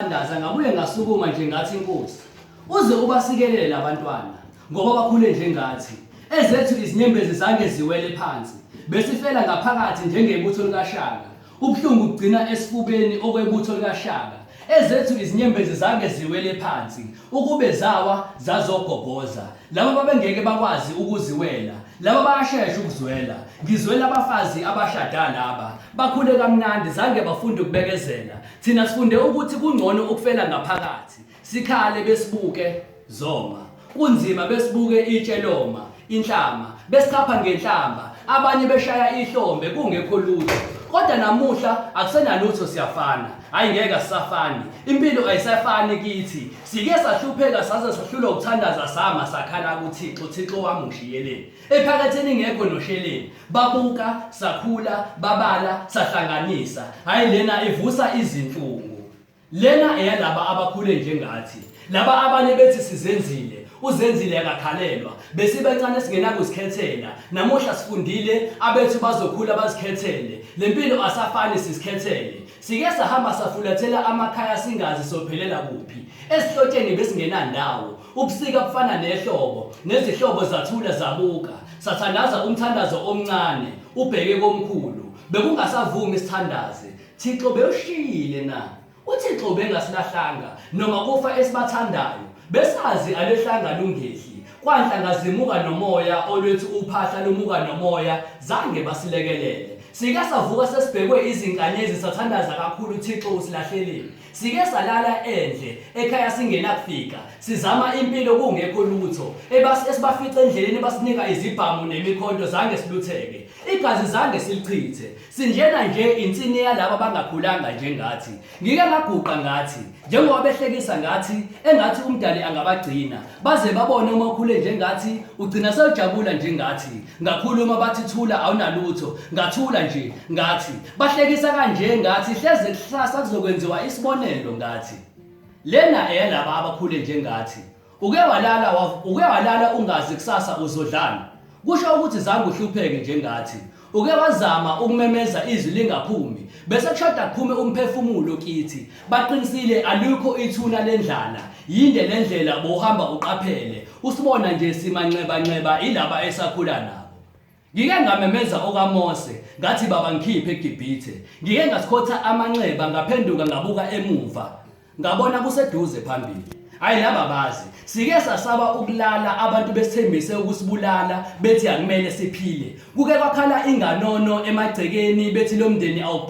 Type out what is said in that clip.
Thandaza ngabuye ngasukuma nje ngathi inkosi uze ubasikelele labantwana ngoba bakhule njengathi ezethu izinyembezi zange ziwele phansi besifela ngaphakathi njengebutho likashaka ubuhlungu bugcina esifubeni okwebutho likashaka ezethu izinyembezi zange ziwele phansi ukube zawa zazogoboza laba babengeke bakwazi ukuziwela laba bayashesha ukuzwela ngizwela abafazi abashada laba bakhule kamnandi zange bafunde ukubekezela Thina sifunde ukuthi kungcono ukufela ngaphakathi, sikhale besibuke zoma. Kunzima besibuke itshe loma, inhlama, besichapha ngenhlamba, abanye beshaya ihlombe kungekho lutho. Kodwa namuhla akusenalutho siyafana. Hayi ngeke asisafani. Impilo ayisafani kithi. Sike sahlupheka saze sahlulwa ukuthandaza sama sakhala kuThixo, Thixo wami ngishiyeleni. ephakatheni ngekho nosheleni babuka sakhula babala sahlanganisa hayi lena ivusa izinhlungu lena eyalaba abakhule njengathi laba abanye bethi sizenzile uzenzile akakhalelwa besibancane singenakuzikhethela namuhla sifundile abethu bazokhula bazikhethele lempilo asafani sisikhethele sike sahamba safulathela amakhaya singazi sophelela kuphi esihlotsheni besingenandawo Ubusika bufana nehlobo, nezihlobo zathula zabuka, sathandaza umthandazo omncane, ubheke komkhulu. Bekungasavumi isithandazi. Thixo bewushiyile na? UThixo ubengasilahlanga noma kufa esibathandayo. Besazi alehlanga lungehli. Kwanhlanga zimuka nomoya olwethi uphahla lumuka nomoya, zange basilekelele. Sike savuka sesibhekwe izinkanyezi sathandaza kakhulu Thixo usilahleleni. Sike salala endle ekhaya singenakufika sizama impilo kungekho lutho ebasi esibafica endleleni basinika izibhamu nemikhonto zange silutheke igazi zange silichithe sinjena nje insini yalaba bangakhulanga njengathi ngike ngaguqa ngathi njengoba behlekisa ngathi engathi umdali angabagcina baze babone uma ukhule njengathi ugcina sewujabula njengathi ngakhuluma bathi thula awunalutho ngathula nje ngathi Bahlekisa kanje ngathi hleze kuhlasa kuzokwenziwa isibonelo ngathi. Lena eyalaba abakhule njengathi. Uke walala wa- uke walala ungazi kusasa uzodlana. Kusho ukuthi zange uhlupheke njengathi. Uke wazama ukumemeza izwi lingaphumi bese kushoda kuphume umphefumulo kithi. Baqinisile alukho ithuna lendlala. Yinde lendlela bohamba uqaphele. Usibona nje simanxeba nxeba ilaba esakhula nabo. Ngike ngamemeza okaMose, ngathi, Baba, ngikhiphe eGibhithe. Ngike ngasikhotha amanxeba, ngaphenduka ngabuka emuva, ngabona kuseduze phambili. Hhayi, laba bazi. Sike sasaba ukulala, abantu besithembise ukusibulala, bethi akumele siphile. Kuke kwakhala inganono emagcekeni, bethi lo mndeni awuphili.